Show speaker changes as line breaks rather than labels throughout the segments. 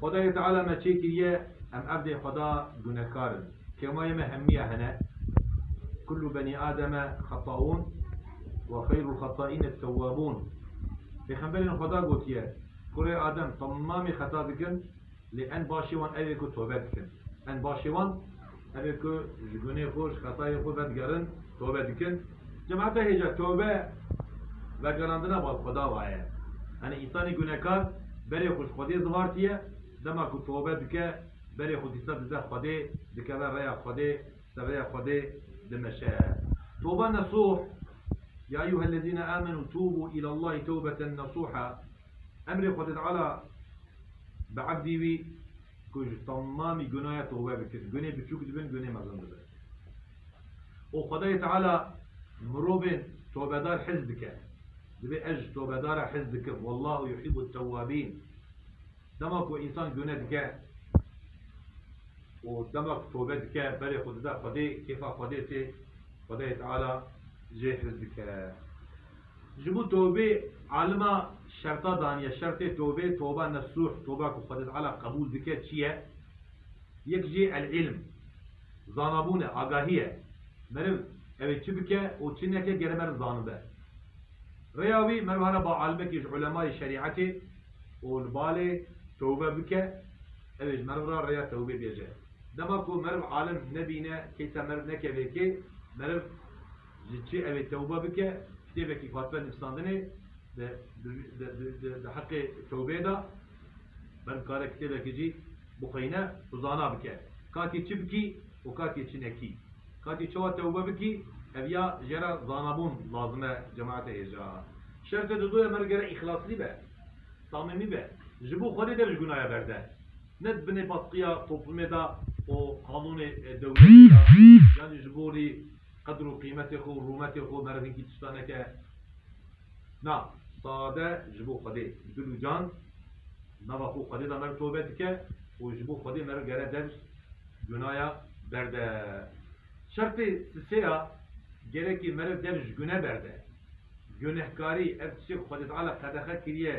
Xwedayê Teala me çê kiriye, em evdê Xweda gunekar in. Kêmayê me hemîya hene, Kullu benî Ademe xeta'ûn ve xeyrul xeta'în et-tewwabûn. Pêxemberên Xweda gotiye, Kurê Adem temamê xeta dikin, lê en başê wan ew ê ku tobe dikin. En başê wan. Evê ku ji gunê xwe û ji xetayên xwe vedigerin, tobe dikin. Cemata hêja tobe vegerandina bal Xweda wa ye. Yanî însanî gunekar berê xwe ji Xwedê zivartiye, dema ku tobe dike, berê xwe dîsa dide Xwedê, dikeve rêya Xwedê, ser rêya Xwedê dimeşe. Toba nesuh, Ya eyyuhellezîne âmenû tûbû îlallâhi tewbeten nesûha, Emrê Xwedê Teala bi ebdî wî ku ji temamî gunaya tobe bikin, gunê biçûk dibin, gunê mezin dibin. Û Xwedayê Teala mirovên tobedar hez dike. Divê ez ji tobedaran hez dikim, Wallahu yuhîbut tewabîn. Dema ku însan gune dike û dema ku tobe dike, berê xwe dide Xwedê, kêfa Xwedê tê, Xwedayê Teala jê hez dike. Ji bo tobê alima şerta daniye. Şertê tobê, toba nesuh, toba ku Xwedê Teala qebûl dike çi ye? Yek jî el-ilm, zanabûn e, agahî ye. Meriv ew ê çi bike û çi neke gere meriv zanibe. Rêya wî meriv hare ba alimekî ji ulemayê şerîetê û li balê tobe bike, ew ê ji meriv re rêya tobê bêje. Dema ku meriv alim nebîne, keysa meriv nekeve kê, meriv. Ji çi ew ê tewbe bike? Kitêbekî Fatime nivîsandine di heqê tewbeyê de ber dikare kitêbekî jî bixwîne û zana bike katî çi bikî û katî çi nekî. Katî çawa tewbe bikî ev ya jê re zanabûn lazim e cemaete hêja. Şertê dudu ye mer gerek îxlaslî be, samîmî be, ji bo Xwedê de ji gunaya berde. Ne di binê baskiya toplûmê de û qanûnê dewletê de yan jî ji bo rî. Qedr û qîmetê xwe û rûmetê xwe merivên îtişta neke. Na, sade ji bo Xwedê bi dil û can nava xwe û Xwedê de meriv tobe dike û ji bo Xwedê meriv gere der gunaya berde. Şertê sisê ya, gerekî meriv der ji gune berde. Gunehkarî, ev tiştê ku Xwedê Teala qedexe kiriye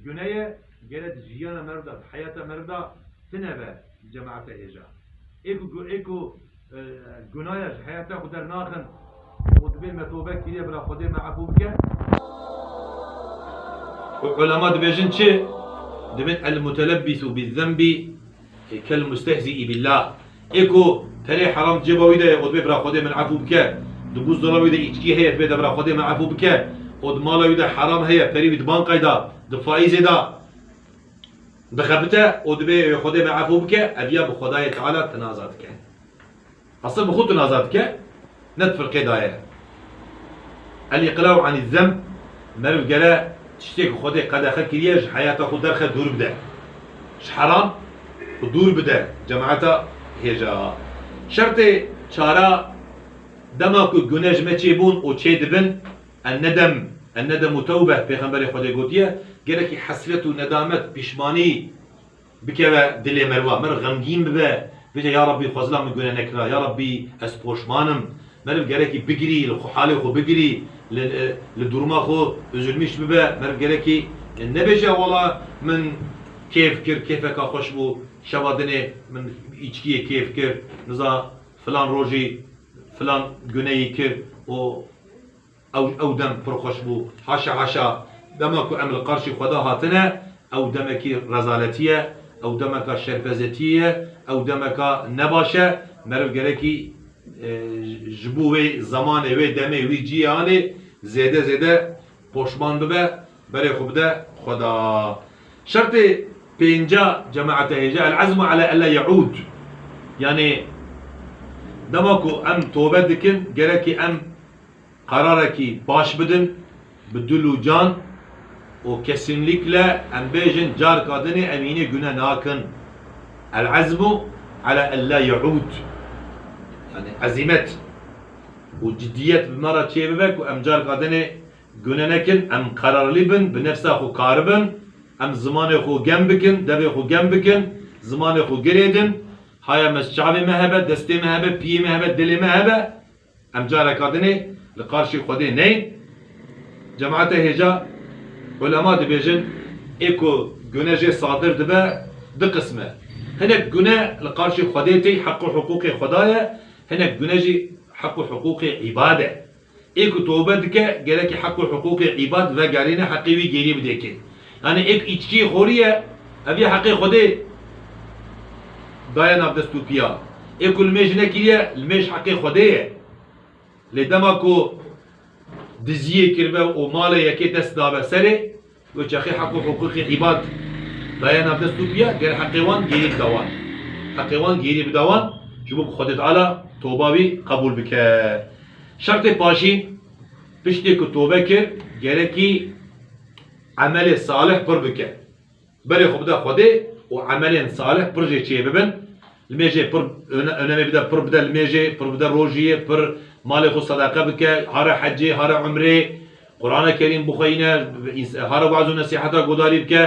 gune ye, gere di jiyana meriv de, di heyata meriv de tine be di cemaete hêja. Ê ku ê ku. Gunaya ji heyetê xwe dernaxin û dibê me tobe kirîye bila Xwedê me efû bike. Û ulema dibêjin çi? Dibin El-mutelebbîsû bizzembî kel-mustehzî'î billah. Ê ku terê heram di cêba wî de ye û dibê bila Xwedê min efû bike, di bûzdola wî de îçkî heye dibê de bila Xwedê me efû bike û di mala wî de heram heye perî wî di banqayda, di faîzê de, Dixebite û dibe wê Xwedê me efû bike, ev ya bi Xwedayê Teala tinaza dike. Asil bi xwe tinaza dike, ne di firqê da ye. Elî Qilaw anî zem, Meriv gere tiştê ku Xwedê qedexe kiriye ji heyata xwe derxe dûr bide. Ji heram û dûr bide cemaeta hêja. Şertê çara dema ku gune ji me çêbûn û çêdibin Enedem, Enedem u tewbeh Pêxemberê Xwedê gotiye, gelekî hesret û nedamet, pîşmanî, bikeve dilê merwa, meriv xemgîn bibe, bije ya Rabbî xwe zila min gune nekira, ya Rabbî ez poşman im. Meriv gerekî bigirî, li xwe halê xwe bigirî, li li duruma xwe üzülmîş bibe, meriv gerekî nebêje wala min kêf kir, kêfeka xweş bû, şeva dinê min îçkiyê kêf kir, niza filan rojî filan guneyî kir û Ew dem pir xweş bû. Haşa haşa. Dema ku em li qarşî xweda hatine, ew demekî rezaletî ye, ew demeka şerpezetîyê ye, ew demeka ne baş e. Meriv gerekî ji bo wê zemanê, wê demê, wî cîyê anê zêde zêde Poşman bibe, berê xwe bide Xweda. Şertê pênca cemaete hê jî El-ezmu ala ella ye'ûd. Yanî dema ku em tobe dikin gerekî em qerarekî baş bidin bi dil û can û kesînlîkle em bêjin carka din ê em hînê gune nakin. El-ezmu ala ella ye'ûd. Yanî ezîmet. Û cidiyet bi me re çêbibe ku em carka din ê gune nekin, em qerarlî bin, bi nefsa xwe kari bin, em zimanê xwe gem bikin, devê xwe gem bikin, zimanê xwe girêdin, haya me çavê me hebe, destê me hebe, piyê me hebe, dilê me hebe, em careka din ê li qarşî Xwedê neyin. Cemaete hêja ulema dibêjin. Ê ku gune jê sadir dibe, di qism e. Hinek gune li qarşî Xwedê tê, heq û hiqûqê Xweda ye. Hinek dune jî heq û hiqûqê îbad e. Ê ku tobe dike gerekî heq û hiqûqê îbad vegerîne heqê wî gêrî bidê kê. Yanî ê ku îçkîyê xorî ye ev yê heqê Xwedê daye nav dest û pîya. Ê ku limêj nekiriye limêj heqê Xwedê ye. Lê dema ku diziyê kiribe û malê yekê dest dabe serê, Wê çaxê hek û hiqûqê îbad daye nav dest û piya ger heqê wan gêrî bida wan. Heqê wan gêrî bida wan ji bo ku Xwedê Teala toba wî qebûl bike. Şertê paşî, piştê ku tobe kir gerekî emelê salih pir bike. Berê xwe bida Xwedê û emelên salih pir jê çêbibin Li mêjê pir önemê bide, pir bide li mêjê, pir bide rojî, pir malê xwe sedeqe bike, hare hecê, hare umrê, Qurane Kerîm bixweyne, hare waz û nesîheta guhdarî bike,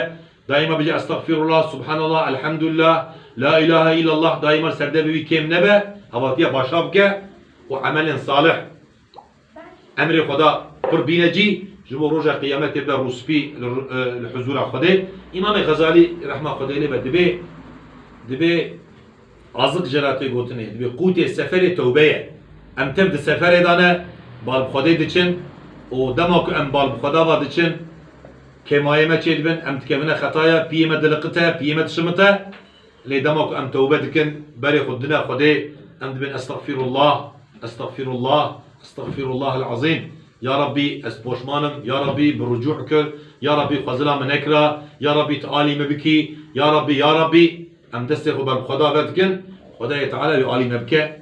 daîma bije Estexfîrullah, Subhanallah, Elhamdulillah, La îlahe îllallah, daîma li ser devê wî kêm nebe, hevatiya başa bike û emelên salih Emrê Xweda pir bîne cî, ji bo roja qîyametê bibe rûspî li huzûra Xwedê. Îmamê Xezalî rehma Xwedê lê be dibê dibê azik jê re tê gotinê, dibê qûtê seferê tewbe ye. Em tev di seferê de ne, bal bi Xwedê diçin û dema ku em bal bi Xweda ve diçin, kêmayê me çêdibin, em dikevine xetaya, piyê me diliqite, piyê me dişimite. Lê dema ku em tewbe dikin, berê xwe didine Xwedê, em dibên Estexfîrullah, Estexfîrullah, Estexfîrullahel Ezîm, Ya Rabbî ez poşman im, Ya Rabbî bi rucû kir, Ya Rabbî xwe zila min nekira, Ya Rabbî tu alî min bikî, Ya Rabbî, Ya Rabbî, em destê xwe ber bi Xweda ve dikin, Xwedayê Teala wî alî me bike,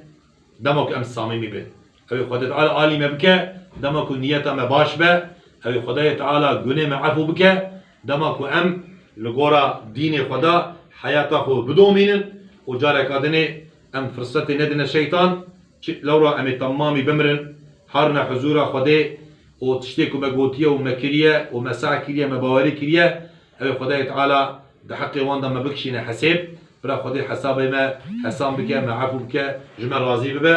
dema ku em samîmî bin. Ew ê Xwedê Teala alî me bike, dema ku niyeta me baş be, ew ê Xwedayê Teala gunê me efû bike, dema ku em li gora dînê xwe de heyata xwe bidomînin û careka din ê em firsetê nedine şeytan, çi lewra em ê temamî bimirin, harine huzûra Xwedê û tiştê ku me gotiye û me kiriye û me sey kiriye, me bawerî kiriye, ew ê Xwedayê Teala di heqê wan de me bikişîne hesêb, bira Xwedê hesabê me hesan bike, me efû bike, ji me razî bibe.